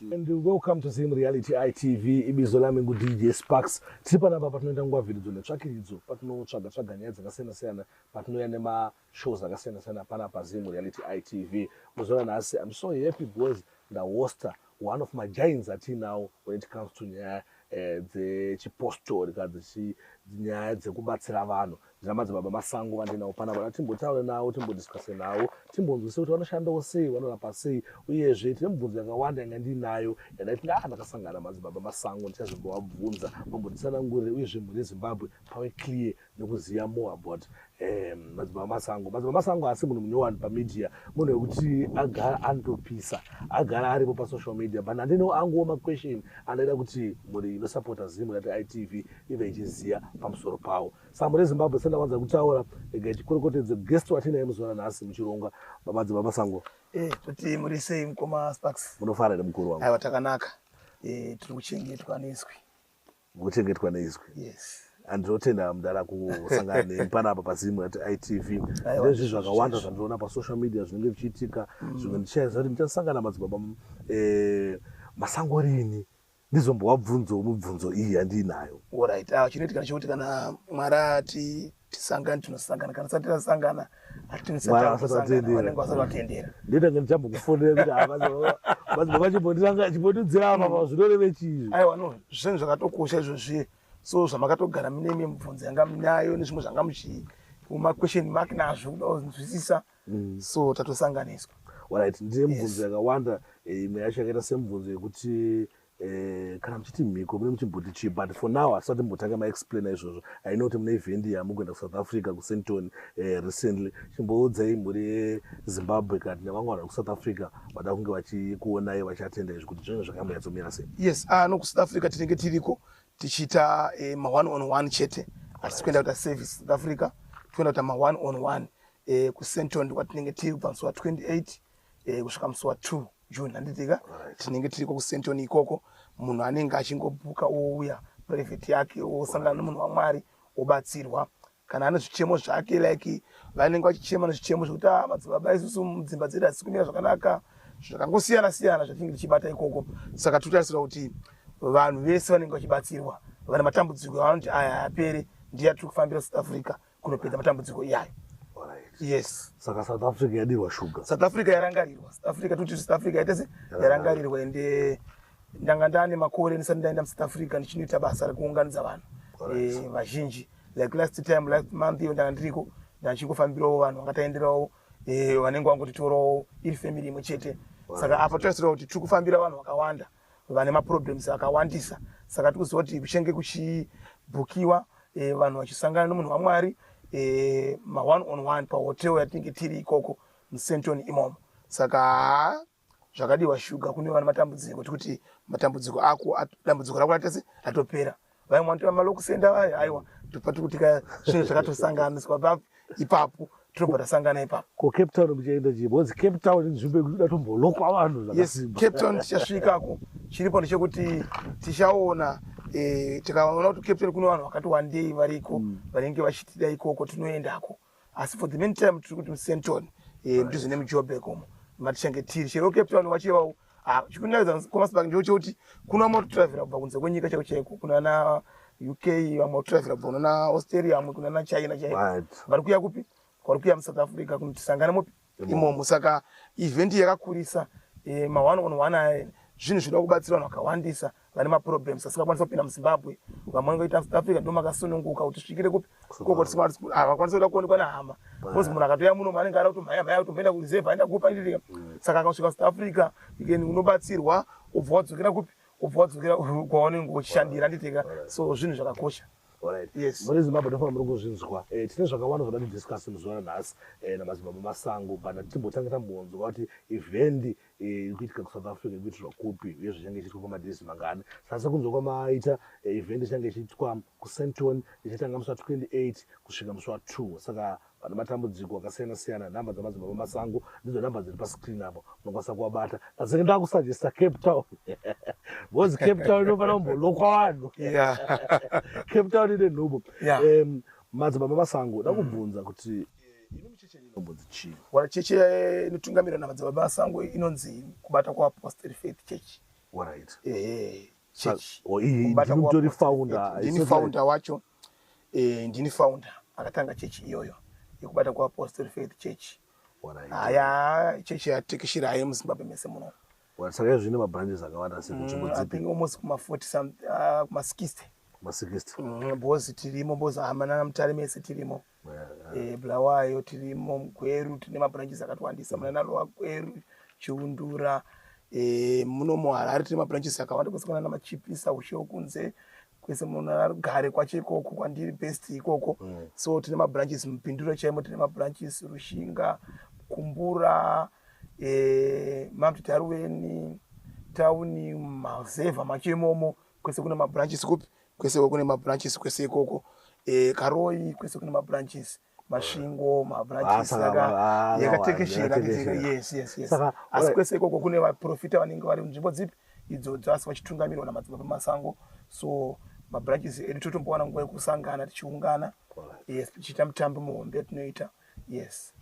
And welcome to Zim Reality ITV. Ibizo lami ngu DJ Sparks. Tiri panapa patinoita nguva viridzo netsvakiridzo, patinotsvaga tsvaga nyaya dzakasiyana siyana, patinouya nema shows akasiyana siyana panapa Zim Reality ITV. Muzoona nhasi I'm so happy because nda hoster one of my giants atinawo when it comes to nyaya eh, dzechipostori kana nyaya dzekubatsira vanhu Ndinamadzibaba Masango vandinawo panapa kuti timbotaure nawo timbodiscase nawo timbonzwisisa kuti vanoshandawo sei vanorapa sei uyezve tine mibvunzo yakawanda yanga ndiinayo yandaiti ndaa ndakasangana madzibaba Masango ndichazongowabvunza vambonditsanangurire uyezve mhuri yeZimbabwe pave clear nekuziva more about um, madzibaba Masango madzibaba Masango haasi munhu munyowani pamedia munhu wekuti agara anotopisa agara aripo pasocial media but handine anguwo maquestion andaida kuti mhuri inosapota Zim rati ITV ive ichiziva pamusoro pawo Sambo reZimbabwe sendawanza kutaura regai tikorokotedze guest watinaye muzuva ranhasi muchirongwa babadzi bamasango eh, kuti muri sei mukoma sparks munofara here mukuru wangu aiwa takanaka eh, tiri kuchengetwa neizwi mukuchengetwa neizwi yes andinotenda mudara kusangana nemi panapa pazimu at itv ndezvi zvakawanda zvandinoona pasocial media zvinenge zvichiitika mm. zvimwe ndichaiza kuti ndichasangana madzibaba eh, masango rini ndizombovabvunzawo mibvunzo iyi yandiinayo orit ah, chinoitikana chokuti kana mwari ati tisangani tinosangana kana sati tasangana atinisatiaanenge vasati vatendera ndotange ndichambokufonera kuti avachimbondirangachimbondidzira apa pa zvinoreve chizvi aiwa no zvinhu zvakatokosha izvozvi so zvamakatogara mine mibvunzo yanga minayo nezvimwe zvanga muchii umaquestion mak nazvo kuda kunzwisisa mm. so tatosanganiswa right ndine mibvunzo yakawanda eh, imwe yacho yakaita semibvunzo yekuti Eh, kana muchiti mhiko mune muchimboti chii but for now hasati mbotange maexplaina izvozvo i know kuti mune event yamukuenda kusouth africa kusenton eh, recently chimboudzai mhuri yezimbabwe kati nevamwe vanhu vekusouth africa vada kunge vachikuonai vachatenda izvi kuti zvinenge zvakamboyatsomira sei yes ah, no kusouth africa tinenge tiriko tichiita eh, ma one on one chete hatisi kuenda kuita service south africa tikuenda kuita ma one on one eh, kusenton ndikwatinenge tiri kubva musi wa 28 eh, kusvika musi wa 2 june handitika tinenge tiriko kusenton ikoko munhu anenge achingobhuka ouya private yake osangana nemunhu wamwari obatsirwa kana ane zvichemo zvake like vanenge vachichema nezvichemo zvekuti ah, madzibaba isusu mudzimba dzedu hasi kumira zvakanaka zvakangosiyana siyana zvatinenge tichibata ikoko saka titotarisira kuti vanhu vese vanenge vachibatsirwa vane matambudziko avanoti aya apere ndiya tiri kufambira south africa kunopedza matambudziko iyayo yes saka south africa yadirwa shuga south africa yarangarirwa south africa toti south africa yaita se yarangarirwa ende ndanga ndane makore ndisati ndaenda musouth africa ndichinoita basa rekuunganidza vanhu eh, vazhinji like last time last month iyo ndanga ndiriko ndachingofambirawo vanhu vanga taenderawo eh, vanenge vangotitorawo iri family imwe chete saka apa toasirawo kuti tiri kufambira vanhu vakawanda right. vane maproblems akawandisa saka tikuziva kuti kuchenge kuchibhukiwa e, vanhu vachisangana nomunhu wamwari e, maone on one pahotel yatinenge tiri ikoko musenton imomo saka zvakadiwa shuga kune vana matambudziko tikuti matambudziko ako dambudziko rako ratese ratopera vaimwe vanotora mari okusenda vaya aiwa ndopati kuti ka zvinhu zvakatosanganiswa pa ipapo tinobva tasangana ipapo ko cape town muchaenda chii bcause cape town inzvimbo yekuti datombolokwa vanhu zvakasimba cape town tichasvikako chiripo ndechekuti tichaona eh, tikaona kuti cape town kune vanhu vakati wandei variko mm. vanenge vachitida ikoko tinoendako asi for the main time tiri kuti musenton eh, ndizvo nemujobek umo matichange tiri chero cape town wachivawo ah, chikunaidza kwamasibak ndiwo chekuti kuna vamwe kutravhera kubva kunze kwenyika chaiko chaiko kuna na uk vamwe kutravhera kubva kunana australia vamwe kunana china chaiko vari kuya kupi kwari kuya musouth africa kunotisangana mopi imomo saka event yakakurisa e, ma one on one aya zvinhu zvinoda kubatsira vanhu vakawandisa vane maproblems asingakwanisa kupinda muzimbabwe vamwe ngoita south africa ndo makasununguka kuti svikire kupi kokotavakwanisa kuda kuonekwa nehama bcause munhu akatoya muno maanenge ara kutomhaya mhaya kutomboenda kureserve aenda kupa ndiriria mm. saka akasvika south africa ikeni unobatsirwa ubva wadzokera kupi ubva wadzokera kwawanenge uchishandira nditeka so zvinhu zvakakosha Alright. Yes. Muri Zimbabwe ndofana muri kuzvinzwa. Eh, tine zvakawanda zvoda kudiscuss muzuva ranhasi eh, namadzibaba masango but hatimbotange tambonzwa kuti event eh, iri kuitika kuSouth Africa ikuitirwa kupi uye zvichange ichiitwa kwamadays mangani. Saka sekunzwa kwamaita eh, event ichange ichiitwa kuSenton ichatanga musi wa 28 kusvika musi wa 2. Saka Vane matambudziko akasiyana siyana. Number dzamadzibaba Masango ndidzo number dziri pa screen apo. Munokwanisa kuvabata. Ndazenge ndakusajesta Cape Town. Because Cape Town inofanira kumbolokwa vanhu. Yeah. Cape Town ine nhubu. Yeah. Um, madzibaba Masango ndakubvunza mm. kuti chechi eh, inotungamirwa namadzibaba masango inonzi kubata kwaapostle faith church right. ehe church oh, wacho eh, ndini founder akatanga chechi iyoyo yekubata kuapostle faith church haya chechi yatekeshira haye muzimbabwe mese muno saka zvine mabranches akawanda sekunzvimbo mm, dzipi almost kuma 40 kuma 60 kuma 60 bhozi tirimo bhozi hamana namutare mese tirimo Eh, bulawayo tirimo mugweru tine mabranches akatowandisa muna narowa gweru chiundura eh, muno muharare tine mabranches akawanda kwese kunana machipisa ushe wokunze kwese munarugare kwacho ikoko kwandiri best ikoko mm. so tine mabranches mupinduro chaimo tine mabranches rushinga kumbura eh, mamtitaruweni tauni mazevha macho imomo kwese kuna mabranches kupi kwese kune mabranches kwese ikoko eh, karoi kwese kune mabranches masvingo mabranches yakatekeshera yes yes yes asi kwese ikoko kune vaprofita vanenge vari munzvimbo dzipi idzodzo asi vachitungamirirwa namadzibaba masango so mabranches edu totombowana nguva yekusangana tichiungana yes tichiita mitambo muhombe yatinoita yes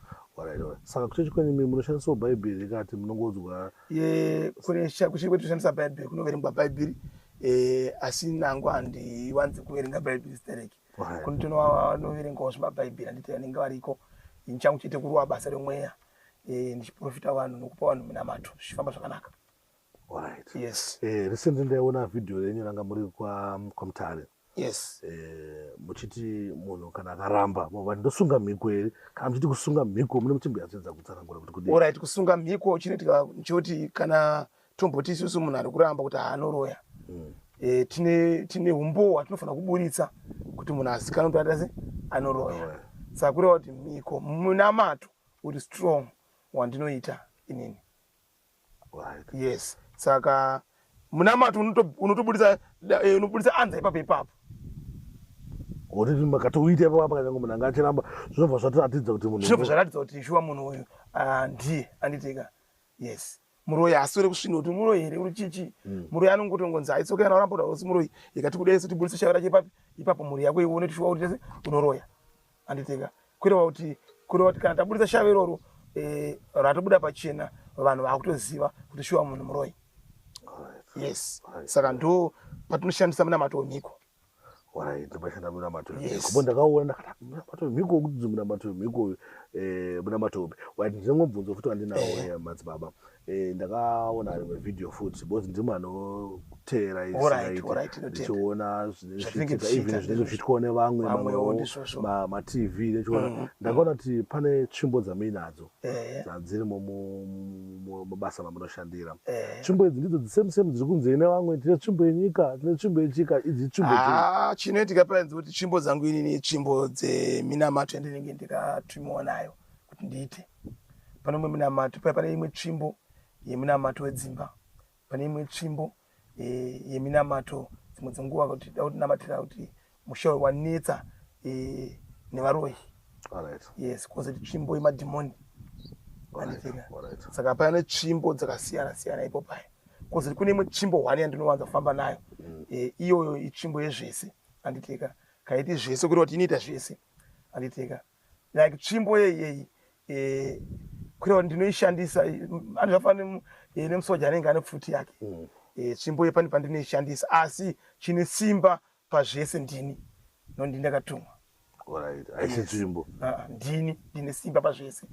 saka kuchechi kwenyu mimi munoshandisawo bhaibheri rekati munongodzwa kuchechi kwedu kushandisa bhaibheri kunoverengwa bhaibheri eh, asi nangu handiwanzi kuverenga bhaibheri stereki kuno tinoverengawo zvemabhaibheri anditi anenge variko ndichangu chete kuruwa basa remweya eh, ndichiprofita vanhu nokupa vanhu minamato zvichifamba zvakanaka right yes eh recently ndaiona video renyu ranga muri kwa kwamtare yes eh, muchiti munhu kana akaramba mova ndosunga mhiko here kana muchiti kusunga mhiko mune muchimbo yatsedza kutsanangura kuti kudii orit kusunga mhiko chinoitika nchoti kana tomboti isusu munhu ari kuramba kuti haanoroya mm. e, tine tine umbowo hwatinofanira kuburitsa kuti munhu asikana kuti atase anoroya oh, saka kureva kuti mhiko munamato uri strong wandinoita inini right. yes saka munamato unoto- unotobudisa da- eh, unobudisa anza ipapo ipapo Uri makatoita ipapo apa kanyange munhu anga achiramba zvinobva zvatiratidza kuti munhu zvinobva zvaratidza kuti shuwa munhu uyu ah, ndiye anditika yes muroyi aswere kusvina kuti muroyi here uri chichi muroyi anongotongonzi aitsoka yana oramba kuti hausi muroyi ikati kudai sotibudisa shavi rake ipapi ipapo mhuri yako ione kuti shuwa kuti tese unoroya anditika kureva kuti kureva kuti kana taburitsa shave iroro eh, ratobuda pachena vanhu vakutoziva kuti shuwa munhu muroyi yes saka ndo patinoshandisa munamato wemhiko ndimashanda munamato wemhiko ndakaona ndakati munamato wemhiko wekuti munamato wemhiko eh, munamato upi ndine mubvunzo futi wandinawo eh. madzibaba Eh, ndakaona rimwe video futi because ndimo anoteera isinaiichiona zvinenge zvichitwa nevamwe matv nechiona mm-hmm. ndakaona kuti pane tsvimbo dzamuinadzo eh. dzadzirimo mabasa mamunoshandira eh. tsvimbo idzi ndidzo dzisame same dziri kunzei nevamwe tine tsvimbo yenyika tine tsvimbo yechika idzi itsvimbo ah, chinoitika paenzi kuti tsvimbo dzangu inini itsvimbo dzeminamato yandinenge ndikatwimiwa nayo kuti ndiite pane umwe munamato paya pane imwe tsvimbo yemunamato wedzimba pane imwe tsvimbo eh, yeminamato dzimwe dzenguva kuti da kutinamatira kuti musha uyu wanetsa eh, nevaroyi yes kozoti tsvimbo yemadhimoni saka paya netsvimbo dzakasiyana siyana ipo paya kozoti kune imwe tsvimbo hwani yandinowanza kufamba nayo mm. eh, iyoyo itsvimbo yezvese anditika kaiti zvese kureva kuti inoita zvese anditika like tsvimbo yeyeyi eh, kureva kuti ndinoishandisa ani zvafanira eh, nemusoja anenge ane pfuti yake mm. eh, tsvimbo yepani pandinoishandisa asi chine simba pazvese ndini nondi ndakatumwa aisi tsvimbo ah, ndini ndine simba pazvese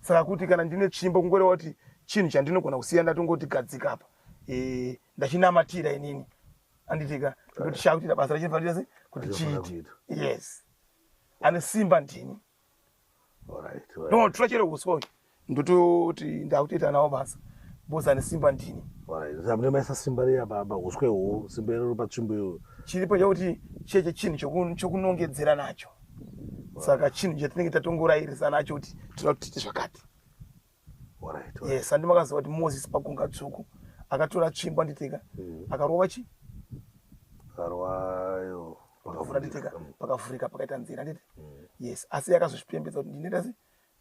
saka kuti kana ndine tsvimbo kungoreva kuti chinhu chandinogona kusiya ndatongoti gadzika apa eh, ndachinamatira inini anditika kuti shakutira basa rachinofanira kuti chiiti yes ane simba ndini ndotora chero uswa uyu ndototi ndakutoita nawo basa bhozi ane simba ndini amunemaisa simba riya baba uswe hwo simba iro ro patsvimbo iyo chiripo chakuti cheche chinhu chokunongedzera nacho saka chinhu chatinenge tatongorairisa nacho kuti tinoda kuti tiite zvakati yes andi makaziva kuti moses pakunga tsvuku akatora tsvimbo anditeka mm. akarova chi akarwayo pakavhura nditeka mm. pakavhurika pakaita nzira anditi mm. yes asi yakazozvipembedza kuti ndinoita se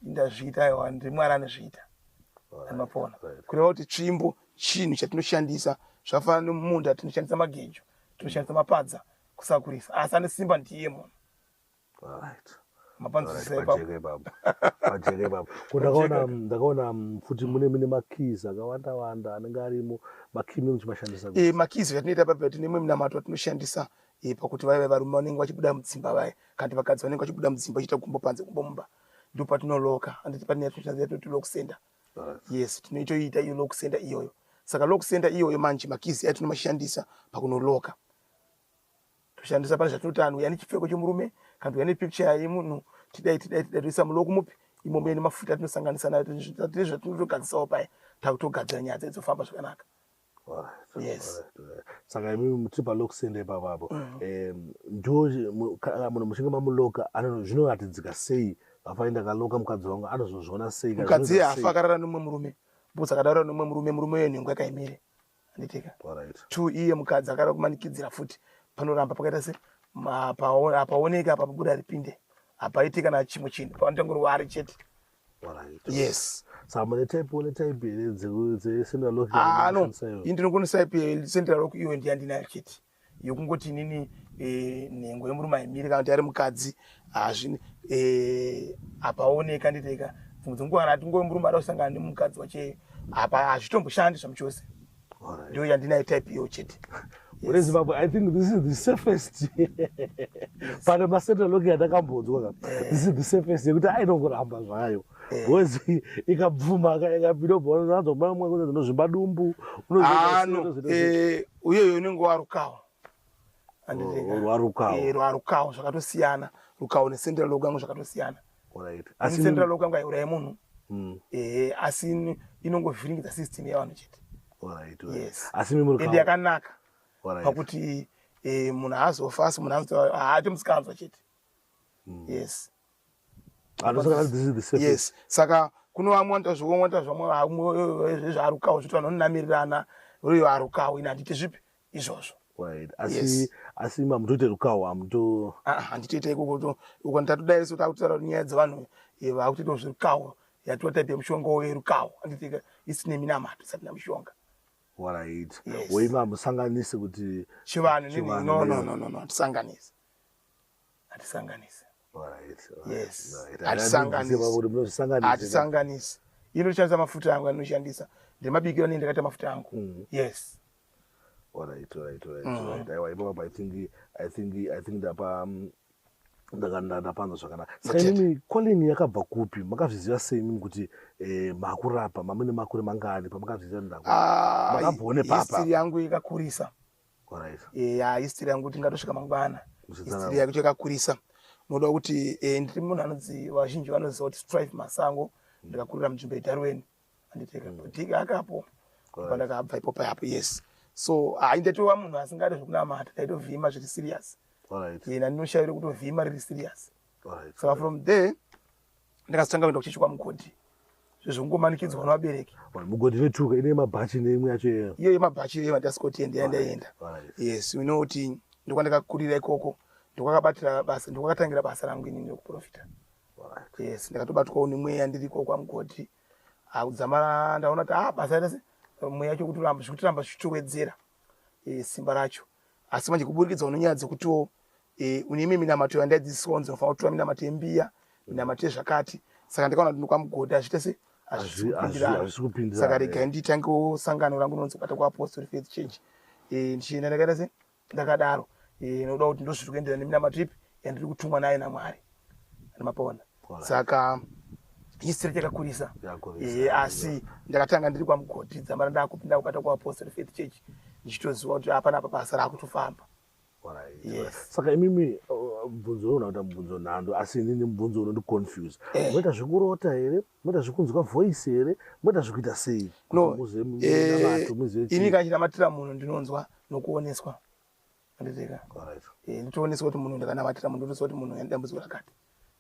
ndazviita aiwa ndimwari anozviita amapona kureva kuti tsvimbo chinhu chatinoshandisa zvakafanana nemunda tinoshandisa magejo tinoshandisa mapadza kusakurisa asi ane simba ndiye munhu ndakaona mm, futi mune mine makeys akawanda wanda anenge arimo makey mune muchimashandisa e eh, makeys atinoita papa tine imwe minamato atinoshandisa e eh, pakuti vaive varume vanenge vachibuda mudzimba vaye kanti vakadzi vanenge vachibuda mudzimba vachiita gumbo panze gumbo mumba ndo patinoloka handiti pane yatinoshandisa toti lock center yes tinoitoita iyo lock center iyoyo saka lock center iyoyo manje makeys atinomashandisa pakunoloka toshandisa pane zvatinoti anhu yani chipfeko chomurume kana tuyani picture yemunhu tidai tidai tidai toisa mulo kumupi imomo yene mafuta atinosanganisa nayo tine zvatinotogadzisawo paya takutogadzira nyaya dzedzo famba zvakanaka yes saka imi muti palokusende ipapabo mm. ndo munhu muchinge mamuloka zvinoratidzika sei afai ndakaloka mukadzi wangu anozozviona sei mukadzi afa akarara nomwe murume bcause akadaura nomwe murume murume uyo nhengo yakaimire anditika to iye mukadzi akada kumanikidzira futi panoramba pakaita se hapaoneki apa pabuda ripinde hapaiti kana chimwe chinhu pavanotangorwa ari chete yes samune type one type here dzecentralano ah, ini ndinokonesaipi central lock iwe ndiyandinayo chete yokungoti inini eh, nhengo yemurume aimiri kana kuti ari mukadzi hazvine eh, hapaoneka nditeka dzimwe dzenguva kana ati ngove murume ada kusangana nemukadzi wacheyo apa hazvitomboshandi zvami chose ndiyo yandinayo type iyo chete ure zimbabwe i think this is the safest pane masetoloki yandakambonzwa ka eh. this is the safest yekuti ainongoramba zvayo Eh. Boys ikabvuma ikapinda ubva unowanza kumwa mwa kunzi ndozvimba dumbu. Ano eh uyoyo unenge warukawo. Andirega. Oh, warukawo. Eh warukawo zvakatosiyana. Rukawo ne central logo yangu zvakatosiyana. Alright. Asi central logo yangu aiuraya munhu. Mm. Eh asi inongovhiringidza system yevanhu chete. Alright. Yes. Asi mimi rukawo. Ende yakanaka. Alright. Pakuti eh munhu azofa asi munhu anzi haati musikanzwa chete. Mm. Yes. yes saka kuno vamwe wanoita zvimwe wanoita zvamwe vamwe zvarukawo zviti vanhu vanonamirirana uyo arukawo ini handiti zvipi izvozvo asi asi mamutoite rukawo amuto ah, ah, handitoita ikoko uko ndatodaira so takutaura nyaya dzevanhu eh, vakutoitawo zverukawo yatiwa type yemushonga werukawo handiti isine minamato isati namushonga warait woima hamusanganisi kuti chivanhu no no no no no tisanganisi hatisanganisi hatisanganisi ino ndishandisa mafuta angu andinoshandisa ndemabikiro anei ndakaita mafuta angu mm. yes alright alright alright mm. alright aiwa ipo i think i think i think ndapa um, ndapanza zvakanaka saka imimi calling yakabva kupi makazviziva sei imimi kuti eh, makurapa mamene makure mangani pamakazviziva ndakumakabvone ah, papahistiri yangu ikakurisa ya history yangu tingatosvika mangwana history yake chakakurisa unoda kuti eh, ndiri munhu anonzi vazhinji vanoziva kuti strive masango mm. ndakakurira munzvimbo yedarweni anditeka mm. diki akapo pandakabva ipopa yapo yes so haindatova munhu asingade zvekunamata ndaitovhima zviri serious yena ndinoshaira kutovhima riri serious saka from there ndakazotanga kuenda kuchechi kwamugodhi zvezvekungomanikidzwa nevabereki mugodhi vetuka ine mabhachi neimwe yacho iyo iyo yemabhachi iyo yemadasikoti ende yandaenda yes you know kuti ndokwandakakurira ikoko ndokwakabatira basa ndokwakatangira basa rangu inini rekuprofita yes ndakatobatwawo nemweya ndiri ikoko kwamugodhi akudzamara ndaona kuti ah basa rese mweya yacho kutiramba zvikutiramba zvichitowedzera eh, simba racho asi manje kuburikidza unenyaya dzekutiwo e, une imwe minamato yandaidzidziswa kunzi unofanira kutora minamato yembiya minamato yezvakati saka ndikaona kuti ndokwamugodhi hazviite se hazvisikupirirasaka regai nditangewo sangano rangu rinonzi kubata kuapostori faith change e, ndichienda ndakaita se ndakadaro e, nokuda kuti ndozviri kuendera neminamato ipi yandiri kutumwa nayo namwari mapaona saka history takakurisa eh, asi ndakatanga ndiri kwamugodhi dzamara ndakupinda kukata kuapostle faith church ndichitoziva kuti hapana apa basa raakutofamba Yes. saka imimi uh, bvunzo unoona kuita mubvunzo nhando asi inini mubvunzo unondiconfuse eh. moita zvekurota here moita zvekunzwa voice here moita zvekuita sei noini eh, kachinamatira munhu ndinonzwa nokuoneswa anditeka eh, nditooneswa kuti munhu ndakanamatira munhu ndotoziva kuti munhu yandidambudziko rakati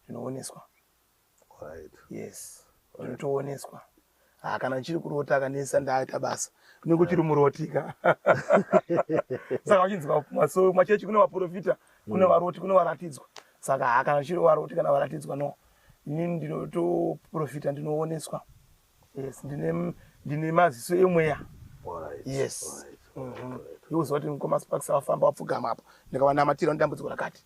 ndinooneswa yes ndotooneswa ah, kana ndichiri kurota akanesa ndaita basa unenge uchiri muroti ka saka vachinzi maso machechi kune vaprofita kune mm. varoti kune varatidzwa saka ha ah, kana ndichiri varoti kana varatidzwa no ini ndinotoprofita ndinooneswa yes ndine ndine maziso emweya yes mhm. iuziva kuti mukoma sparks vafamba vapfugama apo ndikavanamatira ndidambudziko rakati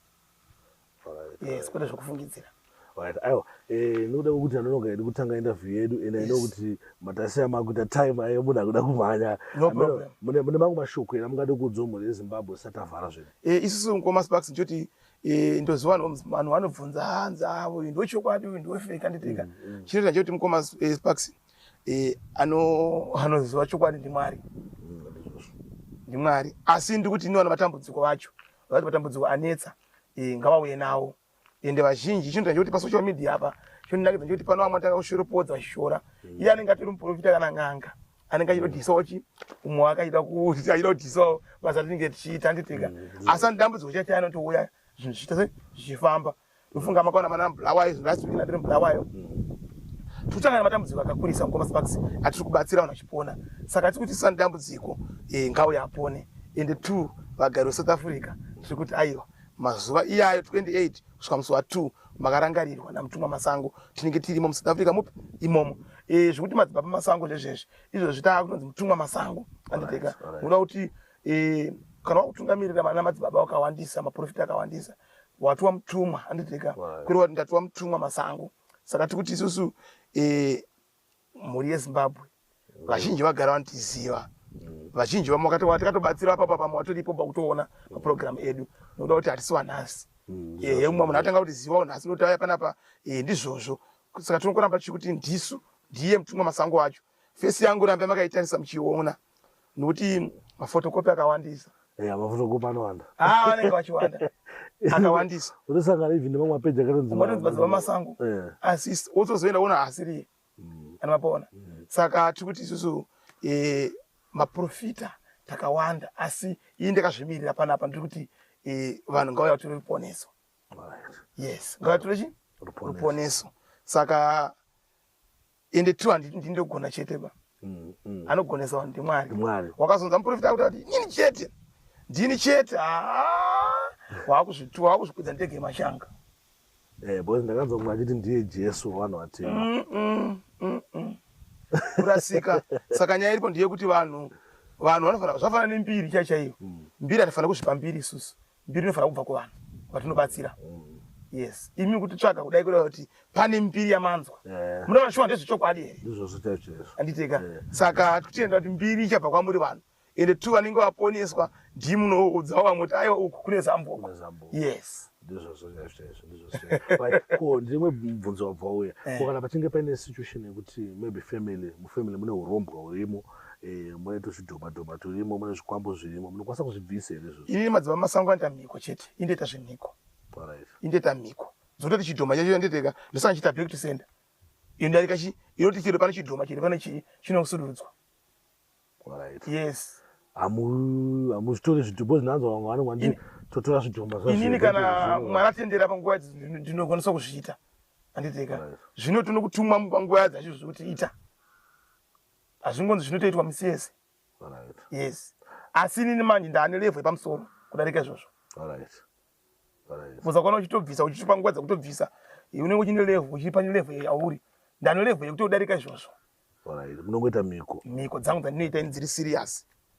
yes kwete zvekufungidzira right aiwa eh, noda kuti anonoga yedu kutanga interview yedu and yes. i know kuti matasi amakuita time ayo munhu akuda kumhanya no problem mune mune mangu mashoko ena mungade kuudzwa mhuri yezimbabwe satavhara zvinhu eh, isusu mukoma sparks ndichoti eh, ndoziva vanhu vanobvunza hanzi avo uyu ndochokwadi uyu ndofake anditeka mm, mm. chinoita ndichoti mukoma eh, sparks eh, anoziva chokwadi ndimwari mm, ndimwari asi ndikuti iniwana matambudziko vacho vati matambudziko anetsa eh, ngavauye nawo ende vazhinji chinhu chachoti pasocial media apa chondinakidza choti pano vamwe tanga kushoropodza vachishora mm. iye anenge atori muprofita kana n'anga anenge achida kudhisawo chi umwe wakaita kuti achida kudhisawo basa tinenge tichiita handiteka mm, asi andidambudziko chati anotouya zvinhu zvichiita se zvichifamba ndofunga makaona mana mubulawayo zvinhu last week natiri mubulawayo totanga nematambudziko akakurisa mukomasparks atiri kubatsira vanhu vachipona saka tiri kuti sandambudziko eh, ngauya apone ende two vagari wesouth africa tiri kuti aiwa mazuva iyayo 28 kusvika musi wa2 makarangarirwa namutumwa masango tinenge tirimo musouth africa mupi imomo e, zvekuti madzibaba masango zvezvezvi izvo zvitaa kunonzi mutumwa masango anditeka unoda kuti e, kana wakutungamirira vana madzibaba wakawandisa maprofita akawandisa watiwa mutumwa anditeka kuri wati ndatiwa mutumwa masango saka tikuti isusu e, mhuri yezimbabwe vazhinji vagara vanotiziva vazhinji vamwe tikatobatsira papa pamwe vatoripo pakutoona maprogramu edu nokuda kuti hatisi vanhasi mm, ehe mumwe munhu atanga kuti ziva unhasi noti aya panapa ehe ndizvozvo saka tinokuramba tichikuti ndisu ndiye mutumwa masango acho fesi yangu rambe makaitarisa muchiona nokuti mafotokopi akawandisa eh, mafotokopi anowanda ah, vanenge vachiwanda akawandisa unosangana even nemamwe mapeji akatonzimadzibva masango eh. asi wotozoenda wona asiriye mm. anomapaona mm. saka tiri kuti isusu eh, maprofita takawanda asi ii ndakazvimirira panapa ndiri kuti vanhu ngauya vatore ruponeso yes ngauya tore chi ruponeso saka ende true handiti ndini ndogona chete ba mm, mm. anogonesa vanhu ndimwari mwari wakazonza muprofita akuti ati nyini chete ndini chete haa wakuzvitua wakuzvikwidza ndege mashanga eh, bcause ndakazomwa achiti ndiye jesu wavanhu vatema mm, mm, kurasika saka nyaya iripo ndiyekuti vanhu vanhu vanofanira zvafanana nembiri chaichaiyo mbiri hatifanira kuzvipa mbiri isusu mbiri inofanira kubva kuvanhu vatinobatsira mm. yes imi mukutitsvaga kudai kureva kuti pane mbiri yamanzwa yeah. munoona shuwa ndezvechokwadi here izvozvo chaicho izvo anditeka yeah. saka tichienda kuti mbiri ichabva kwamuri vanhu ende tu vanenge vaponeswa ndi munoudzawo vamwe kuti aiwa uku kune zamboko yes ndizvozvo chaicho chaizvo ndizvozvo ko ndimwe mubvunzo wabva uya eh. ko kana pachinge paine situation yekuti maybe family mufamily mune urombwa hurimo Eh, mune tuzvidhoma dhoma turimo mune zvikwambo zvirimo munokwanisa kuzvibvisa here izvozvo ini madziva masango anoita mhiko chete indoita zvemhiko indoita mhiko dzototi chidhoma chacho yanditeka ndosanga chiita back to center iyo ndarika chi inoti chiro pane chidhoma chiri pane chii chinosudurudzwa yes hamuzvitori zvidhombo zvinanzwa vamwe vanonga ndi totora zvidhomba inini kana mwari atendera panguva ndinokwanisa kuzviita anditeka zvino tinokutumwa panguva dzacho zvekuti ita hazvingonzi zvinotoitwa misi yese yes asi inini manje ndaane levho yepamusoro kudarika izvozvo bcoz akaona uchitobvisa uchitipa nguva dzakutobvisa unenge uchine levho uchiri pane levho yauri ndane levho yekutodarika izvozvo munongoita miko miko dzangu dzandinoita ini dziri serious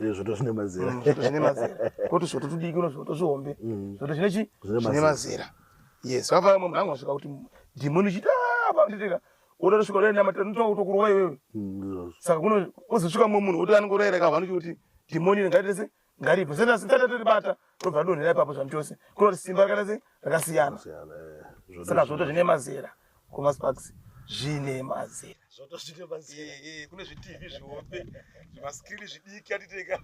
Eh, zvoto zvine mazera mm, zvoto zvine mazera koti zvoto tudiki kuno zvoto zvihombe mm. zvoto zvine chi zvine mazera yes vava vamwe mhangu vasvika kuti dhimoni chiti ah, vanditeka woda kusvika udaenda mati ndinotoa kutokurova iwewe mm, saka kuno ozosvika mumwe munhu woti anongorayira ka vanochi kuti dhimoni ringaitese ngaribve sendasi ndatatiribata tobva donhera ipapo zvanhu chose kunoti simba rakaita sei rakasiyana eh, saka zvoto zvine mazera kumasparks zvine mazera zvoto zvine mazera eh, eh, kune zvitv zvihombe zvimaskrini zvidiki atiteka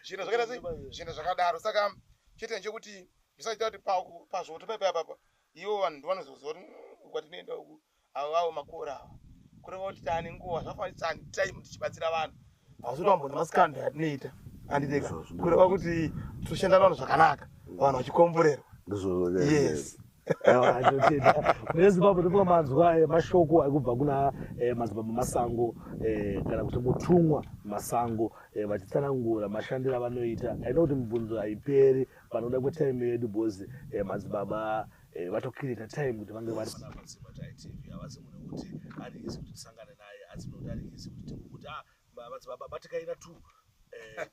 zvinhu zvakaita sei zvinhu zvakadaro saka chete nechekuti zvisaita kuti pazvoto paipa ipapa ivo vanhu ndovanozoziva kuti mm, kwatinoenda uku avo vavo makora ava kureva kuti tane nguva zvafanira tane time tichibatsira vanhu asi utambo nemasikando yatinoita anditeka kureva kuti toshanda vanhu zvakanaka vanhu vachikomborerwa yes nezimbabwe ndofunga manzwa eh, mashoko ari kubva kuna eh, madzibaba masango eh, kana kuti mutumwa masango vachitsanangura mashandiro avanoita aina kuti mibvunzo haiperi panoda kwetime yedu bhozi madzibaba eh, vatokirita time kuti vange vari vana vatsima taitv havazi mune kuti ari izi kuti tisangane naye asi mune kuti ari izi kuti tingokuti ah vavanzi baba batikaira two eh,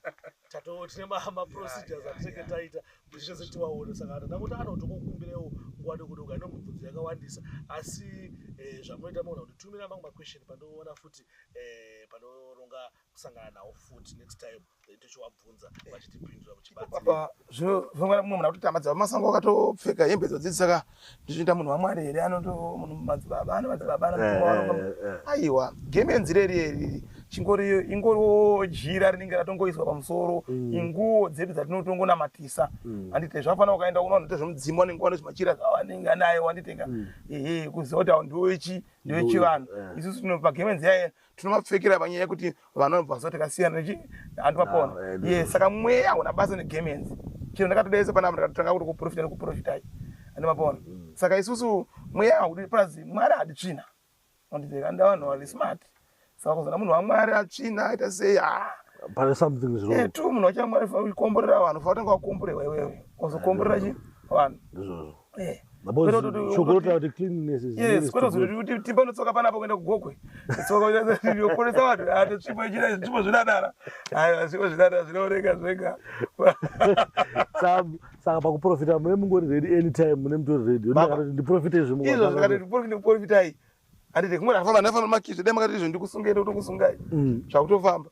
tato tine maprocedures atinenge taita kuti tese tiwaone saka ana ndakuti anotokokumbirewo nguva dokodoko ane mubvunzo yakawandisa asi eh, zvamunoita maona kuti tumira mamwe maquestion pandoona futi eh, panoronga kusangana nawo futi next time tochiwabvunza eh. vachitipindura kuchibatsira zvinongana kumwe munhu akutoti amadzibaba masango akatopfeka hembe dzodzii saka ndichiita munhu wamwari here anoto munhu madzibaba ano madzibaba anoaiwa eh, eh, game yenzira iri iri chingori ingoriwo jira rinenge ratongoiswa pamusoro mm. inguwo dzedu dzatinotongonamatisa mm. andite zvafana ukaenda uno anoita zvemudzimu anenge wane zvimachira zvawanenge anayo wanditenga mm. ehe kuziva kuti awo ndiwo ichi ndiwo chivanhu isu tinopa game nziyaye tinovapfekera panyaya yekuti vanobva kuziva takasiyana nechii hanti vapona ye saka mweya hauna basa negame yenzi chero ndakatodaisa panapa ndakatotanga kuti kuprofita nekuprofitai handi vapona mm. saka isusu mweya haudi plus mwari hadi tsvina andiveka ndavanhu vari smart saka kuzana munhu wamwari atsvina aita sei ha pane something zvo eh, tu munhu wachamwari fa ukomborera vanhu fa utanga wakomborerwa iwewe ozokomborera chi vanhu ndizvozvo Eh. tipanotsoka panapo kuenda kugokwe tsokaoporesa vanhu atisvipo ah, ichita zvipo zvinadara aiwa zvipo zvinadara zvinooneka zvega saka pakuprofita mune mungori redi anytime mune mutori redi ndiprofite izvizvo zvikatikuprofitai andite kumwe ndafamba ndafamba makizve dai makati izvo ndikusungei ndokutokusungai mm. zvakutofamba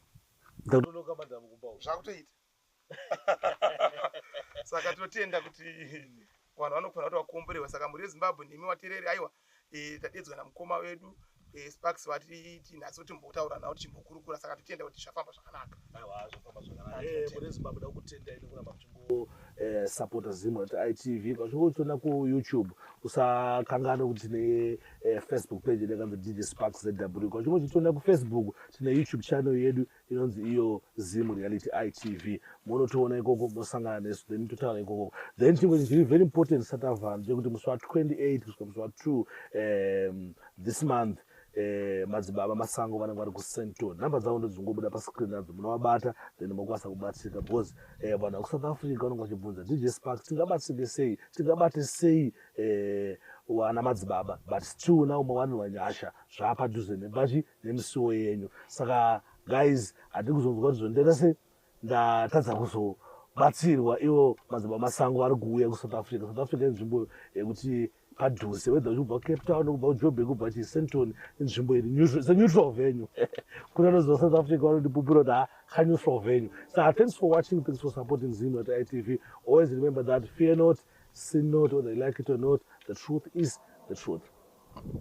zvakutoita saka tinotenda kuti vanhu vanofanira kuti vakomborewa saka mhuri yezimbabwe nemi watereri aiwa e, tadedzwa namukoma wedu e, sparks vati tinhasi kuti mbotaura navo tichimbokurukura saka totenda kuti zvafamba zvakanaka eh, supporter zimwe kuti itv kazviko uchiona kuyoutube usakanganwe kuti tine eh, facebook page yakazi dj sparks zw kazviko uchitiona kufacebook tine youtube channel yedu inonzi iyo zim reality itv monotoona ikoko mosangana nesu then totaura ikoko then chimwe chinhu chiri very important satavanhu chekuti musi wa 28 kusvika musi wa 2 um, this month Eh, madzibaba masango vanenge vari kusenton number dzavo ndodzingobuda pascreen adzo munovabata then mokwanisa kubatsirika because eh, vanhu vakusouth africa vanenge vachibvunza dj spark tingabatsirike sei tingabate sei eh, wana madzibaba but still now mawanirwa nyasha zvaapadhuze nebachi nemisiwo yenyu saka guys hatiri kuzonzwa kuti zvondera sei ndatadza kuzobatsirwa ivo madzimba masango vari kuuya kusouth africa south africa inzvimbo yekuti padhuze wedha uchikubva cape town kubva kujobe kubva chisenton inzvimbo iri seneutral venue kune anoziva south africa vanondipupura kuti ha kaneutral venue sa thanks for watching thanks for supporting zino at itv always remember that fear not sin not whether you like it or not the truth is the truth